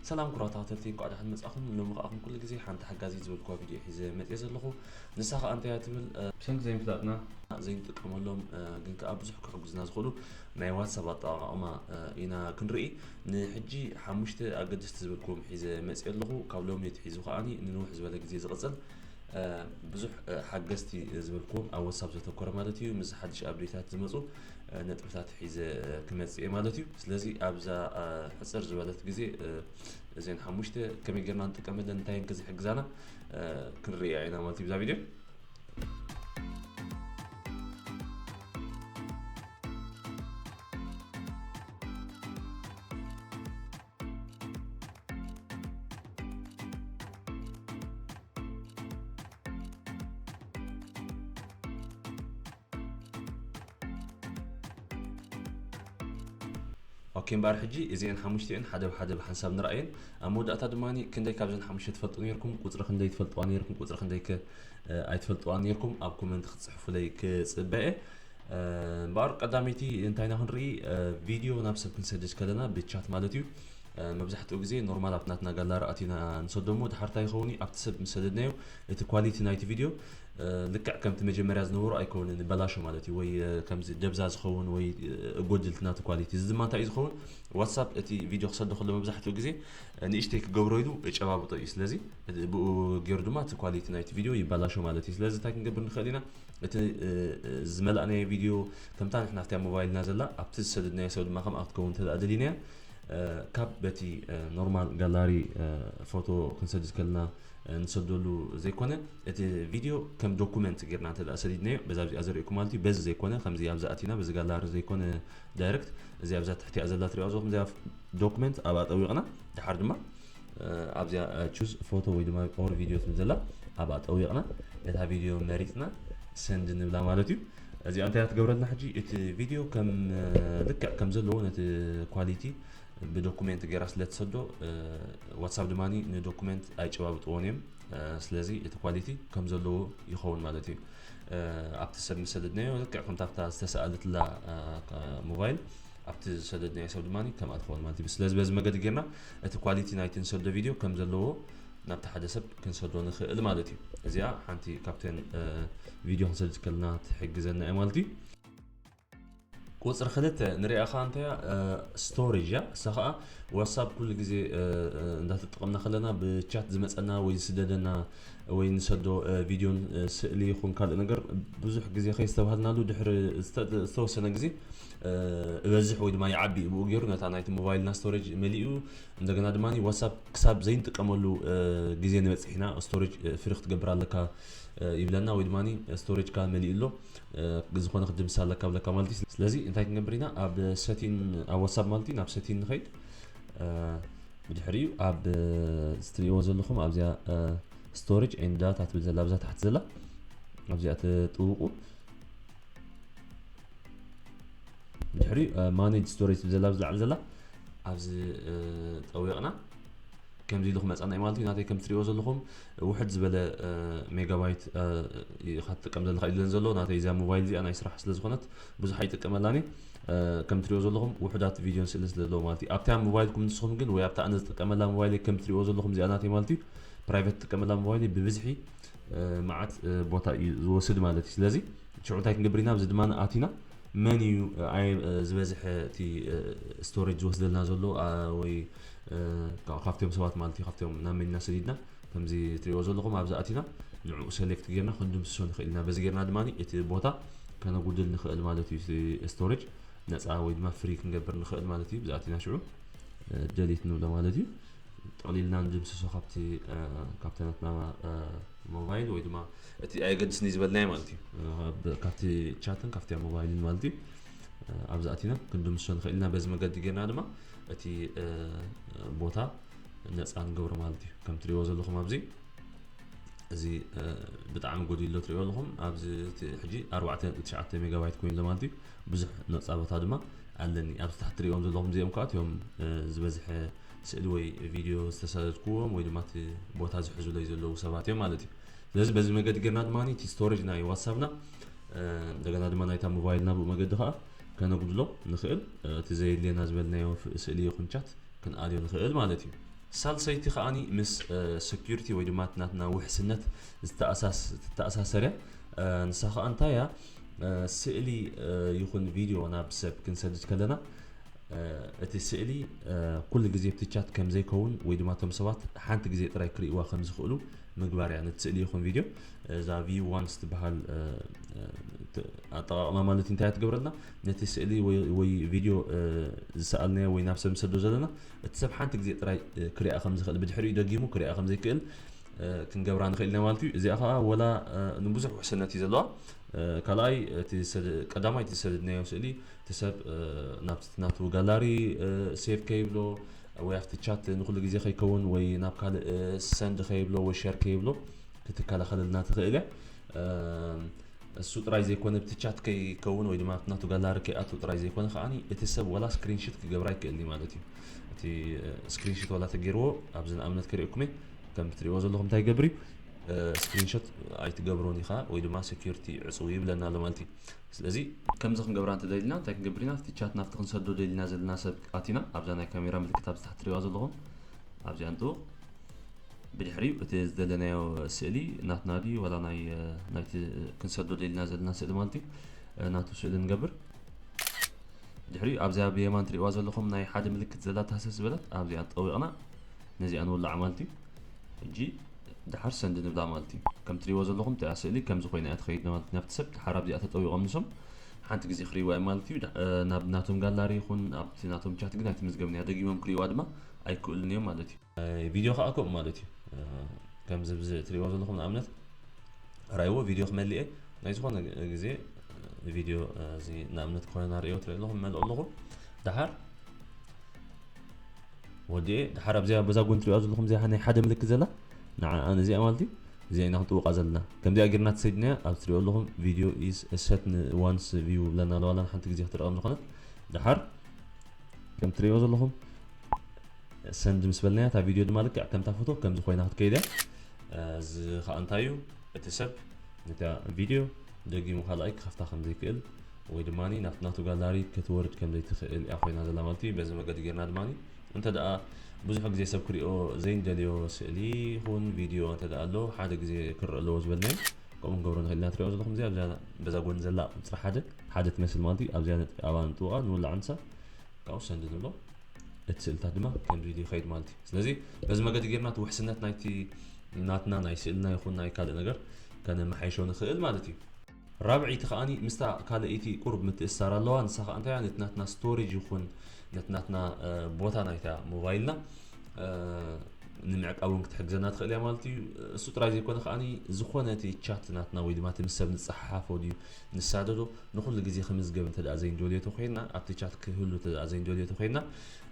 ሰላም ኩቡራት ተኸታተልቲ እንቋዕ ደሓን መጻኹም ሎሚ ከኣ ከም ኩሉ ግዜ ሓንቲ ሓጋዚት ዝበልክዋ ቪድዮ ሒዘ መጽየ ዘለኹ ንሳ ከኣ እንታይ እያ ትብል ብሰንኪ ዘይምፍላጥና ዘይንጥቀመሎም ግን ከኣ ብዙሕ ክሕግዙና ዝኽእሉ ናይ ዋትሳፕ ኣጠቓቕማ ኢና ክንርኢ ንሕጂ ሓሙሽተ ኣገደስቲ ዝበልክዎም ሒዘ መጽየ ኣለኹ ካብ ሎሚ ትሒዙ ከኣኒ ንንውሕ ዝበለ ግዜ ዝቕጽል ብዙሕ ሓገዝቲ ዝበልክዎም ኣብ ዋትሳፕ ዘተኮረ ማለት እዩ ምስ ሓድሽ ኣብዴታት ዝመፁ ነጥብታት ሒዘ ክመጽእ እየ ማለት እዩ ስለዚ ኣብዛ ሕፅር ዝበለት ግዜ እዘን ሓሙሽተ ከመይ ጌርና ንጥቀመለን እንታይ እንከ ዝሕግዛና ክንርያ ኢና ማለት እዩ ብዛ ቪድዮ ኦኬ እምበኣር ሕጂ እዚኤን ሓሙሽቲኤን ሓደ ብሓደ ብሓንሳብ ንርኣየን ኣብ መወዳእታ ድማ ክንደይ ካብዘን ሓሙሽተ ትፈልጡ ነርኩም ቁፅሪ ክንደይ ትፈልጥዋ ነርኩም ቁፅሪ ክንደይ ከ ኣይትፈልጥዋ ነርኩም ኣብ ኮመንት ክትፅሕፉለይ ክፅበ እየ እምበኣር ቀዳመይቲ እንታይ ኢና ክንርኢ ቪድዮ ናብ ሰብ ክንሰድድ ከለና ብቻት ማለት እዩ መብዛሕትኡ ግዜ ኖርማል ኣብ ናትና ጋላሪ ኣቲና ንሰዶ እሞ ድሓር እንታይ ይኸውን ኣብቲ ሰብ ምስ ሰደድናዮ እቲ ኳሊቲ ናይቲ ቪድዮ ልክዕ ከምቲ መጀመርያ ዝነበሮ ኣይከውንን በላሾ ማለት እዩ ወይ ከምዚ ደብዛ ዝኸውን ወይ እጎድልቲ ናቲ ኳሊቲ እዚ ድማ እንታይ እዩ ዝኸውን ዋትሳፕ እቲ ቪድዮ ክሰዶ ከሎ መብዛሕትኡ ግዜ ንእሽተይ ክገብሮ ኢሉ ጨባብጦ እዩ ስለዚ ብኡ ገይሩ ድማ እቲ ኳሊቲ ናይቲ ቪድዮ ይበላሾ ማለት እዩ ስለዚ እንታይ ክንገብር ንኽእል ኢና እቲ ዝመላእናዮ ቪድዮ ከምታ ንሕና ኣብታ ሞባይልና ዘላ ኣብቲ ዝሰደድናዮ ሰብ ድማ ከምኣ ክትከውን እንተ ደሊናያ ካብ በቲ ኖርማል ጋላሪ ፎቶ ክንሰድድ ከለና ንሰደሉ ዘይኮነ እቲ ቪድዮ ከም ዶኩመንት ጌርና እንተ ሰዲድናዮ በዛ ዚኣ ዘርእኩም ማለት እዩ በዚ ዘይኮነ ከምዚ ኣብዚ ኣቲና በዚ ጋላሪ ዘይኮነ ዳይረክት እዚ ኣብዛ ትሕቲኣ ዘላ ትሪኦ ዘኹም እዚኣ ዶኩመንት ኣብኣ ጠዊቕና ድሓር ድማ ኣብዚኣ ቹዝ ፎቶ ወይ ድማ ኦር ቪድዮ ትብል ዘላ ኣብኣ ጠዊቕና ነታ ቪድዮ መሪፅና ሰንድ ንብላ ማለት እዩ እዚኣ እንታይ ትገብረልና ሕጂ እቲ ቪድዮ ከም ልክዕ ከም ዘለዎ ነቲ ኳሊቲ ብዶኩሜንት ገይራ ስለ ትሰዶ ዋትሳፕ ድማ ንዶኩሜንት ኣይጨባብጥዎን እዮም ስለዚ እቲ ኳሊቲ ከም ዘለዎ ይኸውን ማለት እዩ ኣብቲ ሰብ ዝሰደድናዮ ልክዕ ከምታ ኣብታ ዝተሰኣለትላ ሞባይል ኣብቲ ዝሰደድናዮ ሰብ ድማ ከምኣ ትኸውን ማለት እዩ ስለዚ በዚ መገዲ ጌርና እቲ ኳሊቲ ናይቲ ንሰዶ ቪድዮ ከም ዘለዎ ናብቲ ሓደ ሰብ ክንሰዶ ንኽእል ማለት እዩ እዚኣ ሓንቲ ካብተን ቪድዮ ክንሰድ ከልና ትሕግዘና እዩ ማለት እዩ ቁፅሪ ክልተ ንሪኣ ከዓ እንታይ እያ ስቶሬጅ እያ እሳ ከዓ ዋትሳፕ ኩሉ ግዜ እንዳተጠቐምና ከለና ብቻት ዝመፀና ወይ ዝስደደና ወይ ንሰዶ ቪድዮን ስእሊ ይኹን ካልእ ነገር ብዙሕ ግዜ ከይስተባሃልናሉ ድሕሪ ዝተወሰነ ግዜ እበዝሕ ወይ ድማ ይዓቢ ብኡ ገይሩ ነታ ናይቲ ሞባይልና ስቶሬጅ መሊኡ እንደገና ድማ ዋትሳፕ ክሳብ ዘይንጥቀመሉ ግዜ ንበፅሕ ኢና ስቶሬጅ ፍሪ ክትገብር ኣለካ ይብለና ወይ ድማ ስቶሬጅካ መሊኡ ኣሎ ዝኾነ ክትድምስ ኣለካ ብለካ ማለት እዩ ስለዚ እንታይ ክንገብር ኢና ኣብ ሰቲን ኣብ ዋትሳፕ ማለት እዩ ናብ ሰቲን ንኸይድ ብድሕሪኡ ኣብ ዝትሪእዎ ዘለኹም ኣብዚኣ ስቶሬጅ ኤንድ ዳታ ትብል ዘላ ኣብዛ ታሕቲ ዘላ ኣብዚኣ ትጥውቁ ድሕሪ ማኔጅ ስቶሬጅ ትብል ዘላ ኣብዚ ላዕሊ ዘላ ኣብዚ ጠዊቕና ከምዚ ኢሉ ክመፃና እዩ ማለት እዩ ናተይ ከም ትሪእዎ ዘለኹም ውሕድ ዝበለ ሜጋባይት ኢኻ ትጥቀም ዘለካ ኢለን ዘሎ ናተይ እዚኣ ሞባይል እዚኣ ናይ ስራሕ ስለ ዝኾነት ብዙሕ ኣይጥቀመላኒ ከም ትሪእዎ ዘለኹም ውሕዳት ቪድዮን ስእሊ ስለ ዘለዎ ማለት እዩ ኣብታ ሞባይልኩም ንስኹም ግን ወይ ኣብታ ኣነ ዝጥቀመላ ሞባይል ከም ትሪእዎ ዘለኹም እዚኣ ናተይ ማለት እዩ ፕራይቨት ትጥቀመላ ሞባይል ብብዝሒ መዓት ቦታ እዩ ዝወስድ ማለት እዩ ስለዚ ሽዑ እንታይ ክንገብር ኢና ኣብዚ ድማ ኣቲና መን እዩ ዝበዝሐ እቲ ስቶሬጅ ዝወስደልና ዘሎ ወይ ካብቶም ሰባት ማለት እዩ ካብቶም ናብ መን ኢና ሰዲድና ከምዚ ትሪእዎ ዘለኹም ኣብዚ ኣቲና ንዕኡ ሰሌክት ጌርና ክንድምስሶ ንኽእል ኢና በዚ ጌርና ድማ እቲ ቦታ ከነጉድል ንኽእል ማለት እዩ ስቶሬጅ ነፃ ወይ ድማ ፍሪ ክንገብር ንኽእል ማለት እዩ ብዛኣቲና ሽዑ ደሊት ንብሎ ማለት እዩ ጠቕሊልና ንድምስሶ ካብቲ ካብቲ ናትና ሞባይል ወይ ድማ እቲ ኣየገድስኒ ዝበልናዮ ማለት እዩ ካብቲ ቻትን ካብቲ ኣብ ሞባይልን ማለት እዩ ኣብዚ ኣቲና ክንድምስሶ ንኽእል ኢና በዚ መገዲ ጌርና ድማ እቲ ቦታ ነፃ ንገብሮ ማለት እዩ ከም ትሪእዎ ዘለኹም ኣብዚ እዚ ብጣዕሚ ጎዲሉ ኣሎ ትሪእዎ ኣለኹም ኣብዚ ሕጂ 49 ሜጋባይት ኮይኑ ኣሎ ማለት እዩ ብዙሕ ነፃ ቦታ ድማ ኣለኒ ኣብዚ ታሕቲ ትሪእዎም ዘለኹም እዚኦም ከዓ እቲኦም ዝበዝሐ ስእሊ ወይ ቪድዮ ዝተሳደድኩዎም ወይ ድማ እቲ ቦታ ዝሕዙለይ ዘለዉ ሰባት እዮም ማለት እዩ ስለዚ በዚ መገዲ ጌርና ድማ እቲ ስቶሬጅ ናይ ዋትሳፕና እንደገና ድማ ናይታ ሞባይልና ብኡ መገዲ ከዓ ከነጉድሎ ንኽእል እቲ ዘየድልየና ዝበልናዮ ስእሊ ይኹን ቻት ክንኣልዮ ንኽእል ማለት እዩ ሳልሰይቲ ከዓኒ ምስ ሴኪሪቲ ወይ ድማ ናትና ውሕስነት ዝተኣሳሰር እያ ንሳ ከዓ እንታይ እያ ስእሊ ይኹን ቪድዮ ናብ ሰብ ክንሰድድ ከለና እቲ ስእሊ ኩሉ ግዜ ኣብቲ ቻት ከም ዘይከውን ወይ ድማ እቶም ሰባት ሓንቲ ግዜ ጥራይ ክርእይዋ ከም ዝኽእሉ ምግባር እያ ነቲ ስእሊ ይኹን ቪድዮ እዛ ቪው ዋንስ ትበሃል ኣጠቃቕማ ማለት እንታይ እያ ትገብረልና ነቲ ስእሊ ወይ ቪድዮ ዝሰኣልናዮ ወይ ናብ ሰብ ንሰዶ ዘለና እቲ ሰብ ሓንቲ ግዜ ጥራይ ክሪኣ ከም ዝኽእል ብድሕሪኡ ደጊሙ ክሪኣ ከም ዘይክእል ክንገብራ ንኽእል ኢና ማለት እዩ እዚኣ ከዓ ወላ ንብዙሕ ውሕስነት እዩ ዘለዋ ካልኣይ ቀዳማይ እቲ ዝሰደድናዮ ስእሊ እቲ ሰብ ናብቲ ናቱ ጋላሪ ሴቭ ከይብሎ ወይ ኣብቲ ቻት ንኹሉ ግዜ ከይከውን ወይ ናብ ካልእ ሰንድ ከይብሎ ወይ ሸር ከይብሎ ክትከላኸለልና ትኽእል እያ እሱ ጥራይ ዘይኮነ ብቲ ቻት ከይከውን ወይ ድማ ናቱ ጋላሪ ከይኣቱ ጥራይ ዘይኮነ ከዓ እቲ ሰብ ዋላ ስክሪንሽት ክገብራ ይክእል ማለት እዩ እቲ ስክሪንሽት ዋላ ተገይርዎ ኣብዚ ንኣብነት ክርእኩመ ከም ትሪእዎ ዘለኹም እንታይ ይገብር እዩ ስክሪንሾት ኣይትገብሮን ኢኻ ወይ ድማ ሴኪሪቲ ዕፅው ይብለና ኣሎ ማለት እዩ ስለዚ ከምዚ ክንገብራ እንተደሊና እንታይ ክንገብር ኢና እቲ ቻት ናብቲ ክንሰዶ ደሊና ዘለና ሰብ ኣቲና ኣብዛ ናይ ካሜራ ምልክት ኣብዚ ታሕቲ ትሪእዋ ዘለኹም ኣብዚኣ ንጥውቕ ብድሕሪኡ እቲ ዝደለናዮ ስእሊ ናትና ድዩ ዋላ ናይ ናይቲ ክንሰዶ ደሊና ዘለና ስእሊ ማለት እዩ ናቱ ስእሊ ንገብር ድሕሪኡ ኣብዚኣ ብየማን ትሪእዋ ዘለኹም ናይ ሓደ ምልክት ዘላ ታህሰስ ዝበለት ኣብዚኣ ጠዊቕና ነዚኣ ንውላዕ ማለት እዩ ሕጂ ደሓር ሰንድ ንብላ ማለት እዩ ከም ትሪእዎ ዘለኹም እቲኣ ስእሊ ከምዚ ኮይና እያ ትኸይድ ማለት እዩ ናብቲ ሰብ ደሓር ኣብዚኣ ተጠዊቖም ንሶም ሓንቲ ግዜ ክሪእዋ እዮም ማለት እዩ ናብ ናቶም ጋላሪ ይኹን ኣብቲ ናቶም ቻት ግን ኣይትምዝገብን እያ ደጊሞም ክሪእዋ ድማ ኣይክእሉን እዮም ማለት እዩ ቪድዮ ከዓ ከምኡ ማለት እዩ ከምዚ ብዚ እትሪእዎ ዘለኹም ንኣብነት ራይዎ ቪድዮ ክመልእ እየ ናይ ዝኾነ ግዜ ቪድዮ እዚ ንኣብነት ኮይና ርእዮ ትርኢ ኣለኹ መልኦ ኣለኹ ደሓር ወዲ ድሓር ኣብዚኣ በዛ ጎኒ ትሪእዋ ዘለኹም እዚኣ ናይ ሓደ ምልክት ዘላ ንዓኣ ነዚኣ ማለት እዩ እዚኣ ኢና ክንጥውቃ ዘለና ከምዚኣ ጌርና ተሰይድናያ ኣብ ትሪኦ ኣለኹም ቪድዮ ኢስ ሰት ንዋንስ ቪው ብለና ኣለዋ ላን ሓንቲ ግዜ ክትረቐም ዝኾነት ድሓር ከም ትሪእዎ ዘለኹም ሰንድ ምስ በልናያ እታ ቪድዮ ድማ ልክዕ ከምታ ፎቶ ከምዚ ኮይና ክትከይድ እያ እዚ ከዓ እንታይ እዩ እቲ ሰብ ነታ ቪድዮ ደጊሙ ካልኣይ ክኸፍታ ከም ዘይክእል ወይ ድማ ናብ ናቱ ጋላሪ ክትወርድ ከም ዘይትኽእል እያ ኮይና ዘላ ማለት እዩ በዚ መገዲ ጌርና ድማ እንተ ደኣ ብዙሕ ግዜ ሰብ ክሪኦ ዘይንደልዮ ስእሊ ይኹን ቪድዮ እንተ ደኣ ኣሎ ሓደ ግዜ ክረአ ኣለዎ ዝበልናዮ ከምኡ ክንገብሮ ንኽእል ኢና ትሪኦ ዘለኹም እዚኣ ኣብዛ በዛ ጎኒ ዘላ ቁፅሪ ሓደ ሓደ ትመስል ማለት እዩ ኣብዚኣ ነጥቢ ኣብኣ ንጥውቓ ንውላዕ ንሳ ካብኡ ሰንድ ንብሎ እቲ ስእልታት ድማ ከምዚ ኢሉ ይኸይድ ማለት እዩ ስለዚ በዚ መገዲ ጌርና እቲ ውሕስነት ናይቲ ናትና ናይ ስእልና ይኹን ናይ ካልእ ነገር ከነመሓይሾ ንኽእል ማለት እዩ። ራብዐይቲ ከኣ ምስታ ካልኣይቲ ቁሩብ ምትእስሳር ኣለዋ፣ ንሳ ከኣ እንታይ እያ ነቲ ናትና ስቶሬጅ ይኹን ነቲ ናትና ቦታ ናይታ ሞባይልና ንምዕቃብ እውን ክትሕግዘና ትኽእል እያ ማለት እዩ እሱ ጥራይ ዘይኮነ ከዓኒ ዝኾነ እቲ ቻት ናትና ወይ ድማ እቲ ምስ ሰብ ንፀሓሓፎ ድዩ ንሳደዶ ንኩሉ ግዜ ክምዝገብ እንተ ዘይንደልዮ ተኮይንና ኣብቲ ቻት ክህሉ እንተ ዘይንደልዮ ተኮይንና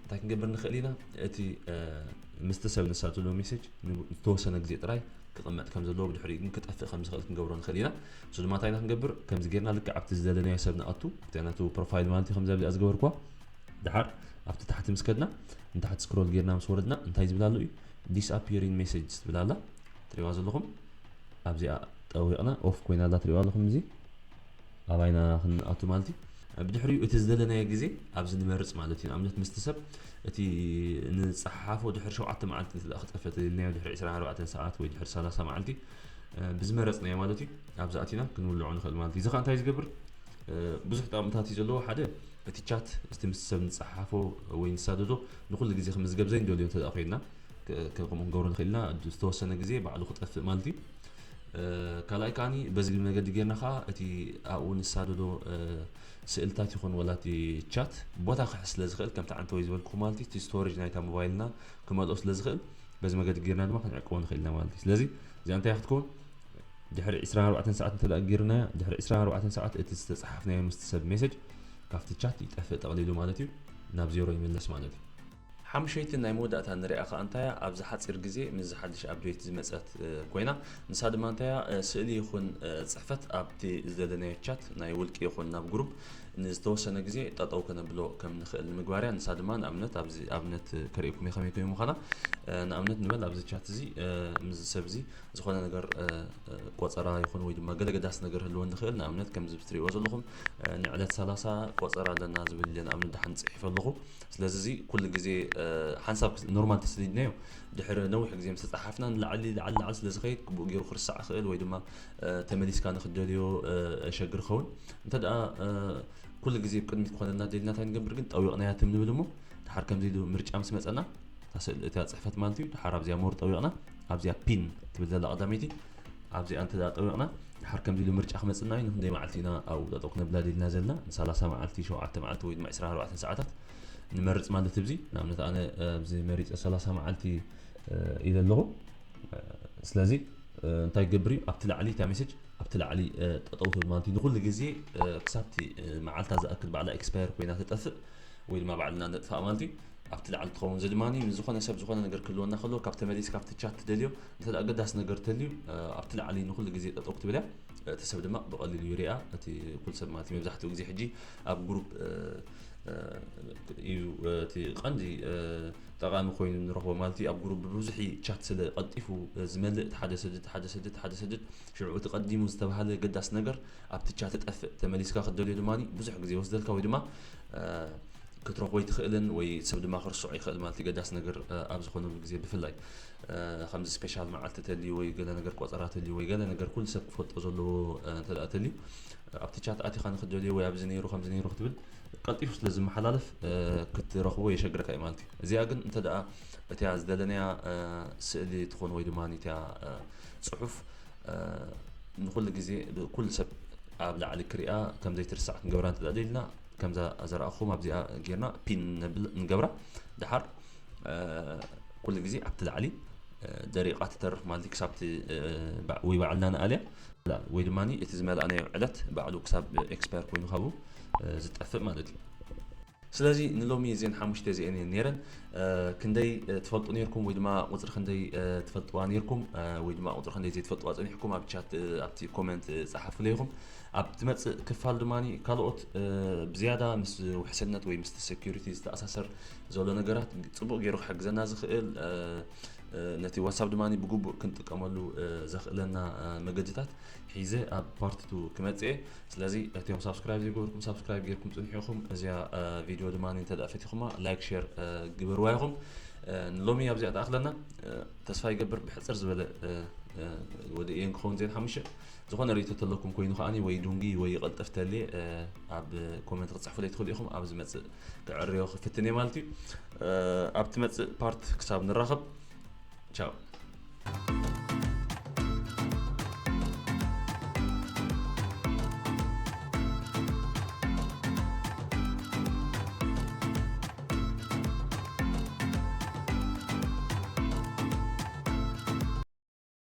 እንታይ ክንገብር ንኽእል ኢና እቲ ምስቲ ሰብ ንሳብ ዘለዎ ሜሴጅ ንዝተወሰነ ግዜ ጥራይ ክቕመጥ ከም ዘለዎ ብድሕሪኡ ግን ክጠፍእ ከም ዝኽእል ክንገብሮ ንኽእል ኢና እሱ ድማ እንታይ ኢና ክንገብር ከምዚ ጌርና ልክዕ ኣብቲ ዝደለናዮ ሰብ ንኣቱ እቲኣ ናቱ ፕሮፋይል ማለት እዩ ከምዚ ኣብዚኣ ዝገበርኩዋ ድሓር ኣብቲ ታሕቲ ምስ ከድና ንታሕቲ ስክሮል ጌርና ምስ ወረድና እንታይ ዝብል ኣሎ እዩ ዲስኣፒሪን ሜሴጅስ ትብል ኣላ ትሪእዋ ዘለኹም ኣብዚኣ ጠዊቕና ኦፍ ኮይና ኣላ ትሪእዋ ኣለኹም እዚ ኣባይ ኢና ክንኣቱ ማለት እዩ። ብድሕሪኡ እቲ ዝደለናዮ ግዜ ኣብዚ ንመርጽ ማለት እዩ። ንኣብነት ምስቲ ሰብ እቲ ንጸሓሓፎ ድሕሪ ሸውዓተ መዓልቲ እንተ ክጠፍእ ተደሊናዮ ድሕሪ ዕስራን ኣርባዕተን ሰዓት ወይ ድሕሪ ሰላሳ መዓልቲ ብዝመረጽናዮ ማለት እዩ ኣብዚ ኣቲና ክንውልዖ ንኽእል ማለት እዩ። እዚ ከኣ እንታይ ዝገብር ብዙሕ ጠቕምታት እዩ ዘለዎ። ሓደ እቲ ቻት እቲ ምስ ሰብ ንጸሓሓፎ ወይ ንሳደዶ ንኹሉ ግዜ ክምዝገብ ዘይንደልዮ እንተ ኮይንና ከምኡ ክንገብሮ ንኽእል ኢና። ዝተወሰነ ግዜ ባዕሉ ክጠፍእ ማለት እዩ። ካልኣይ ከኣ በዚ መገዲ ጌርና ከኣ እቲ ኣብኡ ንሳደዶ ስእልታት ይኹን ወላ እቲ ቻት ቦታ ክሕዝ ስለ ዝኽእል ከምቲ ዓንተወይ ዝበልኩ ማለት እዩ እቲ ስቶሬጅ ናይታ ሞባይልና ክመልኦ ስለ ዝኽእል በዚ መገዲ ጌርና ድማ ክንዕቅቦ ንኽእል ኢና ማለት እዩ ስለዚ እዚኣ እንታይ ክትከውን ድሕሪ 24 ሰዓት እንተ ጌርናያ ድሕሪ 24 ሰዓት እቲ ዝተፅሓፍናዮ ምስቲ ሰብ ሜሴጅ ካብቲ ቻት ይጠፍእ ጠቕሊሉ ማለት እዩ ናብ ዜሮ ይምለስ ማለት እዩ ሓሙሸይቲ ናይ መወዳእታ ንሪኣ ከኣ እንታያ ኣብዚ ሓጺር ግዜ ምስዚ ሓድሽ ኣፕዴት ዝመጸት ኮይና ንሳ ድማ እንታያ ስእሊ ይኹን ጽሕፈት ኣብቲ ዝደለናዮ ቻት ናይ ውልቂ ይኹን ናብ ግሩፕ ንዝተወሰነ ግዜ ጠጠው ከነብሎ ከም ንኽእል ንምግባር እያ ንሳ ድማ ንኣብነት ኣብዚ ኣብነት ከርእየኩም እየ ከመይ ኮይኑ ምዃና ንኣብነት ንበል ኣብዚ ቻት እዚ ምስዚ ሰብ እዚ ዝኾነ ነገር ቆጸራ ይኹን ወይ ድማ ገለ ገዳስ ነገር ህልወ ንኽእል ንኣብነት ከምዚ ብትርእይዎ ዘለኹም ንዕለት 30 ቆጸራ ኣለና ዝብል ንኣብነት ድሓን ጽሒፈ ኣለኹ ስለዚ እዚ ኩሉ ግዜ ሓንሳብ ኖርማል ተሰዲድናዮ ድሕሪ ነዊሕ ግዜ ምስ ተጻሓፍና ንላዕሊ ላዕሊ ላዕሊ ስለ ዝኸይድ ግቡእ ገይሩ ክርሳዕ ይኽእል ወይ ድማ ተመሊስካ ንክትደልዮ ሸግር ይኸውን እንተ ኩሉ ግዜ ቅድሚት ክኾነልና ደልና እንታይ ንገብር ግን ጠዊቕናያ ትም ንብል እሞ ድሓር ከምዚ ኢሉ ምርጫ ምስ መጸና እታ ጽሕፈት ማለት እዩ ድሓር ኣብዚኣ ሞር ጠዊቕና ኣብዚኣ ፒን ትብል ዘላ ቀዳመይቲ ኣብዚኣ እንተ ኣጠቢቕና ደሓር ከምዚ ኢሉ ምርጫ ክመጽእና እዩ፣ ንኽንደይ መዓልቲ ኢና ኣብኡ ጠጠው ክነብላ ድልና ዘልና፣ ንሳላሳ መዓልቲ፣ ሸውዓተ መዓልቲ ወይ ድማ ዕስራን ኣርባዕተን ሰዓታት ንመርጽ ማለት እዚ ንኣብነት ኣነ ኣብዚ መሪጸ ሰላሳ መዓልቲ እዩ ዘለኹ ስለዚ እንታይ ክገብር እዩ ኣብቲ ላዕሊ እታ ሜሴጅ ኣብቲ ላዕሊ ጠጠው ትብል ማለት እዩ ንኩሉ ግዜ ክሳብቲ መዓልታ ዝኣክል ባዕላ ኤክስፓየር ኮይና ተጠፍእ ወይ ድማ ባዕልና ነጥፋእ ማለት እዩ ኣብቲ ላዕሊ ትኸውን እዚ ድማ ንዝኾነ ሰብ ዝኾነ ነገር ክህልወና ከለዎ ካብ ተመሊስ ካብቲ ቻት ትደልዮ እንተ ኣገዳሲ ነገር ተልዩ ኣብቲ ላዕሊ ንኹሉ ግዜ ጠጠው ክትብል እያ እቲ ሰብ ድማ ብቐሊሉ ይርኣ እቲ ኩሉ ሰብ ማለት መብዛሕትኡ ግዜ ሕጂ ኣብ ግሩፕ እዩ እቲ ቀንዲ ጠቃሚ ኮይኑ ንረኽቦ ማለት እዩ ኣብ ጉሩብ ብብዙሕ ቻት ስለ ቀልጢፉ ዝመልእ እቲ ሓደ ሰድድ ሓደ ሰድድ ሓደ ሰድድ ሽዑ እቲ ቀዲሙ ዝተባሃለ ገዳሲ ነገር ኣብቲ ቻት ጠፍእ ተመሊስካ ክትደልዮ ድማ ብዙሕ ግዜ ወስደልካ ወይ ድማ ክትረኽቦ ኣይትኽእልን ወይ ሰብ ድማ ክርስዖ ይኽእል ማለት ገዳሲ ነገር ኣብ ዝኾነሉ ግዜ ብፍላይ ከምዚ ስፔሻል መዓልቲ ተልዩ ወይ ገለ ነገር ቆጸራ ተልዩ ወይ ገለ ነገር ኩሉ ሰብ ክፈልጦ ዘለዎ እንተ ተልዩ ኣብቲ ቻት ኣቲኻ ንክትደልዮ ወይ ኣብዚ ነይሩ ከምዚ ነይሩ ክትብል ቀልጢፉ ስለ ዝመሓላለፍ ክትረኽቦ የሸግረካ እዩ ማለት እዩ እዚኣ ግን እንተ ደኣ እቲያ ዝደለናያ ስእሊ ትኾን ወይ ድማ እቲያ ፅሑፍ ንኩሉ ግዜ ኩሉ ሰብ ኣብ ላዕሊ ክሪኣ ከም ዘይትርሳዕ ክንገብራ እንተ ደሊልና ከምዛ ዘርኣኹም ኣብዚኣ ጌርና ፒን ነብል ንገብራ ድሓር ኩሉ ግዜ ኣብቲ ላዕሊ ደሪቓ ትተርፍ ማለት እዩ ክሳብቲ ወይ ባዕልና ንኣልያ ወይ ድማ እቲ ዝመላእናዮ ዕለት ባዕሉ ክሳብ ኤክስፓየር ኮይኑ ካብኡ ዝጠፍእ ማለት እዩ ስለዚ ንሎሚ እዚን ሓሙሽተ እዚአን እየን ነይረን ክንደይ ትፈልጡ ነርኩም ወይ ድማ ቁፅሪ ክንደይ ትፈልጥዋ ነርኩም ወይ ድማ ቁፅሪ ክንደይ ዘይትፈልጥዋ ፀኒሕኩም ኣብ ቻት ኣብቲ ኮመንት ፀሓፉለይኹም ኣብ ትመጽእ ክፋል ድማ ካልኦት ብዝያዳ ምስ ውሕስነት ወይ ምስቲ ሴኩሪቲ ዝተኣሳሰር ዘሎ ነገራት ጽቡቕ ገይሩ ክሕግዘና ዝኽእል ነቲ ዋትሳፕ ድማ ብግቡእ ክንጥቀመሉ ዘኽእለና መገድታት ሒዘ ኣብ ፓርትቱ ክመፅ እየ ስለዚ እትዮም ሳብስክራይብ ዘይገበርኩም ሳብስክራይብ ጌርኩም ፅንሒኹም እዚያ ቪድዮ ድማ እንተ ፈቲኹማ ላይክ ሸር ግበርዋ ኢኹም ንሎሚ ኣብዚኣ ተኣኽለና ተስፋ ይገብር ብሕፅር ዝበለ ወደ እየን ክኸውን ዜን ሓሙሽተ ዝኾነ ሪኢቶ ተለኩም ኮይኑ ከኣ ወይ ዱንጊ ወይ ይቀልጥፍ ተልየ ኣብ ኮመንት ክትጽሕፉለይ ትኽእሉ ኢኹም ኣብ ዝመጽእ ክዕርዮ ክፍትን እየ ማለት እዩ ኣብ ትመጽእ ፓርት ክሳብ ንራኸብ ቻው